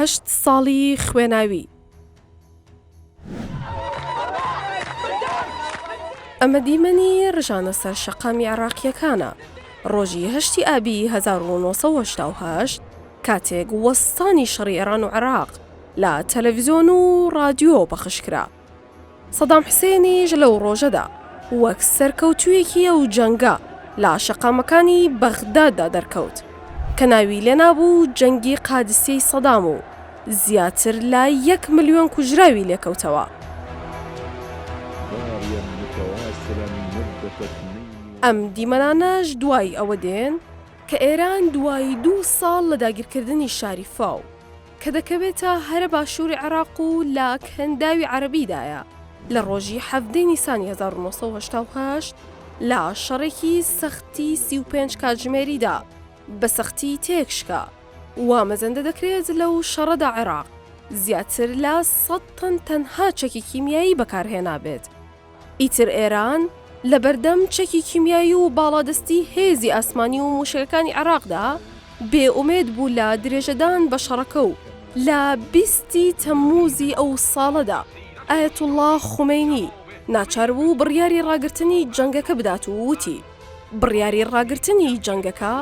هەشت ساڵی خوێناوی ئەمە دیمەنی ڕژانە سەر شەقامی عێراقییەکانە. ڕۆژی هەشتی ئابی 1970 کاتێک وەستانی شەڕی ئێران و عێراق لە تەلەڤزیۆن و ڕادیۆ پەخش کرا. سەدام حسێنیش لەو ڕۆژەدا وەک سەرکەوتوویەکی ئەو جەنگە لە شەقامەکانی بەغداددا دەرکەوت کە ناوی لێنابوو جەنگی قادسیەی سەدام و زیاتر لە یەک ملیۆن کوژراوی لێکەوتەوە. ئەم دیمەنانەش دوای ئەوە دێن کە ئێران دوای دوو ساڵ لە داگیرکردنی شاری فاو کە دەکەوێتە هەرە باشووری عێراق و لە کەنداوی عەرەبیدایە، لە ڕۆژی حەڤدەی نیسانی هەزار و نۆ سەد و هەشتا و هەشت لە شەڕێکی سەختی سی و پێنج کاتژمێریدا بە سەختی تێک شکا. وا مەزەندە دەکرێت لەو شەڕەدا عێراق زیاتر لە سەد تەن تەنها چەکی کیمیایی بەکارهێنابێت. ئیتر ئێران لە بەردەم چەکی کیمیایی و باڵادەستی هێزی ئاسمانی و مووشەکەکانی عێراقدا بێ ئومێد بوو لە درێژەدان بە شەڕەکە و لە بیست ی تەممووزی ئەو ساڵەدا ئایەتوڵڵا خومەینی ناچار بوو بڕیاری ڕاگرتنی جەنگەکە بدات و وتی، بڕیاری ڕاگرتنی جەنگەکە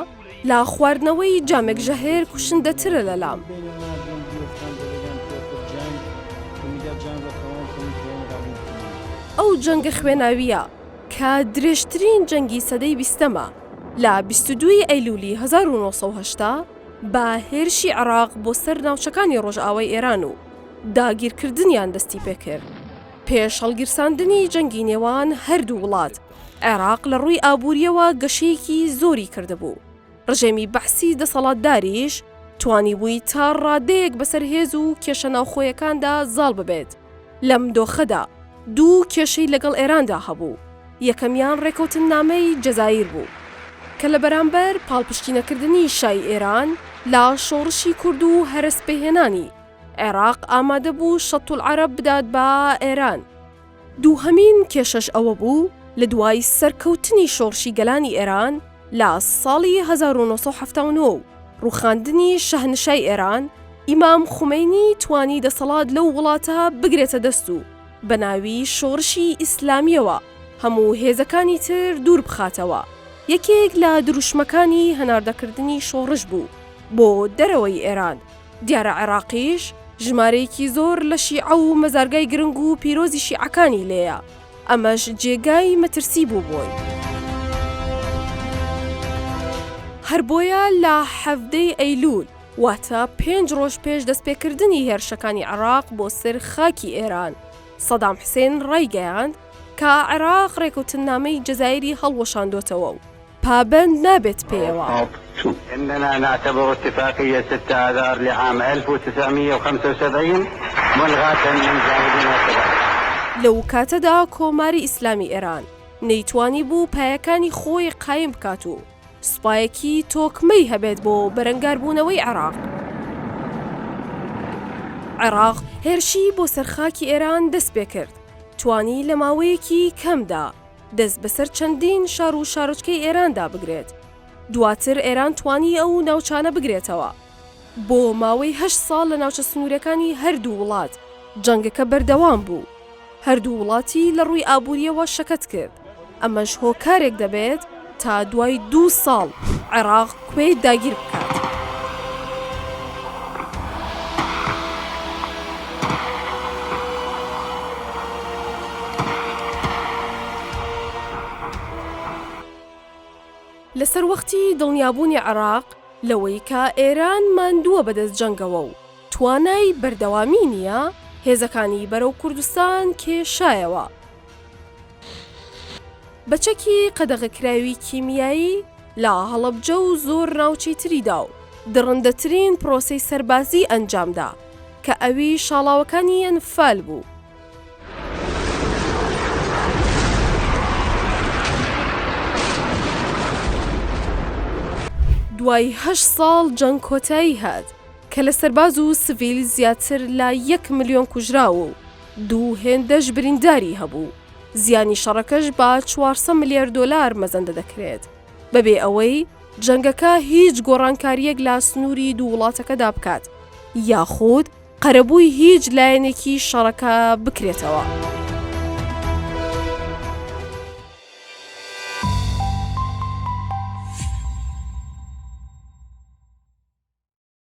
لە خواردنەوەی جامێک ژەهر کوشندەترە لە لام. ئەو جەنگە خوێناوییە کە درێژترین جەنگی سەدەی بیستەمە، لە بیست و دوو ی ئەیلوولی هەزار و نۆ سەد و هەشتا بە هێرشی عێراق بۆ سەر ناوچەکانی ڕۆژئاوای ئێران و داگیرکردنیان دەستی پێ کرد پێش هەڵگیرساندنی جەنگی نێوان هەردوو وڵات. عێراق لە ڕووی ئابوورییەوە گەشەیەکی زۆری کردبوو، ڕژێمی بەعسی دەسەڵاتداریش توانیبووی تا ڕادەیەک بەسەر هێز و کێشە ناوخۆیەکاندا زاڵ ببێت، لەم دۆخەدا دوو کێشەی لەگەڵ ئێراندا هەبوو، یەکەمیان ڕێکەوتننامەی جەزایر بوو، کە لە بەرامبەر پاڵپشتینەکردنی شای ئێران لە شۆڕشی کورد و هەرەسپێهێنانی، عێراق ئامادەبوو شەتولعەرەب بدات بە ئێران. دووهەمین کێشەش ئەوە بوو لە دوای سەرکەوتنی شۆڕشی گەلانی ئێران لە ساڵی هەزار و نۆ سەد و حەفتا و نۆ و ڕووخاندنی شەهنشای ئێران، ئیمام خومەینی توانی دەسەڵات لەو وڵاتە بگرێتە دەست و بە ناوی شۆڕشی ئیسلامییەوە هەموو هێزەکانی تر دوور بخاتەوە. یەکێک لە دروشمەکانی هەناردەکردنی شۆڕش بوو بۆ دەرەوەی ئێران. دیارە عێڕاقیش ژمارەیەکی زۆر لە شیعە و مەزارگای گرنگ و پیرۆزی شیعەکانی لێیە، ئەمەش جێگای مەترسی بوو بۆی. هەر بۆیە لە حەڤدەی ئەیلوول، واتە پێنج ڕۆژ پێش دەستپێکردنی هێرشەکانی عێڕاق بۆ سەر خاکی ئێران، سەدام حسێن ڕایگەیاند کە عێڕاق ڕێکەوتننامەی جەزایری هەڵوەشاندۆتەوە و پابەند نابێت پێیەوە. لەوکاتەدا کۆماری ئیسلامی ئێران نەیتوانیبوو پایەکانی خۆی قایم بکات و سوپایەکی تۆکمەی هەبێت بۆ بەرەنگاربوونەوەی عێراق. عێراق هێرشی بۆ سەر خاکی ئێران دەستپێکرد، توانی لە ماوەیەکی کەمدا، دەست بەسەر چەندین شار و شارۆچکەی ئێراندا بگرێت. دواتر ئێران توانی ئەو ناوچانە بگرێتەوە. بۆ ماوەی هەشت ساڵ لە ناوچە سنوورەکانی هەردوو وڵات جەنگەکە بەردەوام بوو. هەردوو وڵاتی لە ڕووی ئابوورییەوە شەکەت کرد. ئەمەش هۆکارێک دەبێت تا دوای دوو ساڵ عێراق کوێیت داگیر بکات. لە سەروەختی دڵنیابوونی عێراق لەوەی کە ئێران ماندووە بەدەست جەنگەوە و توانای بەردەوامی نییە، هێزەکانی بەرەو کوردستان کێشایەوە. بە چەکی قەدەغەکراوی کیمیایی لە هەڵەبجە و زۆر ناوچەی تریدا و دڕندەترین پرۆسەی سەربازی ئەنجامدا کە ئەوی شاڵاوەکانی ئەنفال بوو. دوای هەشت ساڵ جەنگ کۆتایی هات کە لە سەرباز و سڤیل زیاتر لە یەک ملیۆن کوژراو و دوو هێندەش برینداری هەبوو، زیانی شەڕەکەش بە چوار سەد ملیار دۆلار مەزەندە دەکرێت، بەبێ ئەوەی جەنگەکە هیچ گۆڕانکارییەک لە سنووری دوو وڵاتەکەدا بکات یاخود قەرەبووی هیچ لایەنێکی شەڕەکە بکرێتەوە.